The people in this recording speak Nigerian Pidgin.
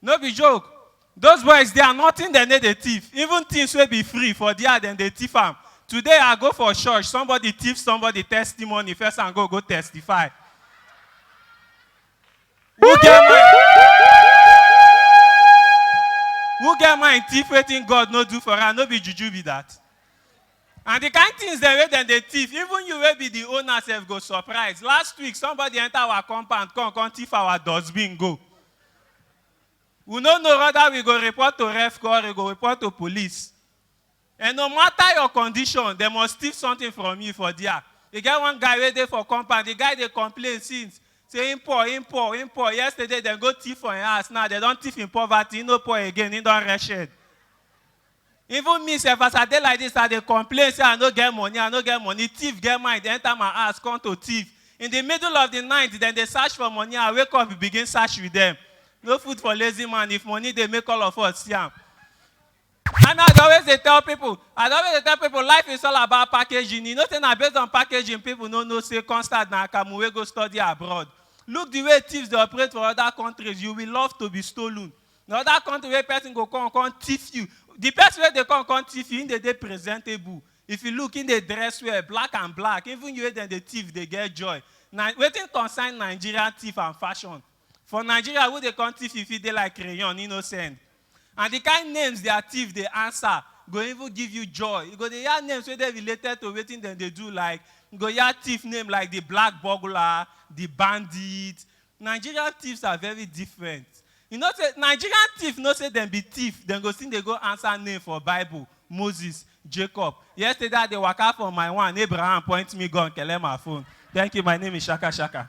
No be joke, those boys dia nothing dem no dey thief, even things wey be free for dia dem dey thief am, today I go for church somebody thief somebody testimony first and go go testify who get mind who get mind thief wetin God no do for am no be juju be that and the kind things dem wey dem dey thief even you wey be the owner sef go surprise, last week somebody enter our compound come come thief our dustbin go. We no know whether we go report to REFCO or we go report to police. And no matter your condition, they must steal something from you for there. They get one guy wey dey for compound, the guy dey complain since. Say him poor, him poor, him poor. Yesterday, dem go thief for him house. Now, they don thief him poverty. He no poor again. He don wretched. Even me sef as I dey like this I dey complain say I no get money I no get money thief get mind enter my house come to thief in the middle of the night dem dey search for money I wake up begin search with them no food for lazy man if money dey make all of us see am And I dey always dey tell people, I dey always dey tell people life is all about packaging. You know say na based on packaging people no know say Constard na Akamu wey go study abroad. Look the way thieves dey operate for other countries, you will love to be stolen. na other country wey person go come come thief you the person wey dey come come thief you him dey dey presentable if you look him dey dress well black and black even you wey dem dey thief dey get joy na wetin concern nigerian thief and fashion for nigeria who dey come thief you fit dey like crayon him no send and the kind names their thief dey answer go even give you joy you go dey hear names wey dey related to wetin dem dey do like you go hear thief name like the black burglar the bandit Nigerian thieves are very different you know say Nigerian thief know say dem be thief dem go still dey go answer name for bible Moses Jacob yesterday I dey waka for my one Abraham point me gun kele my phone thank you my name is Shaka Shaka.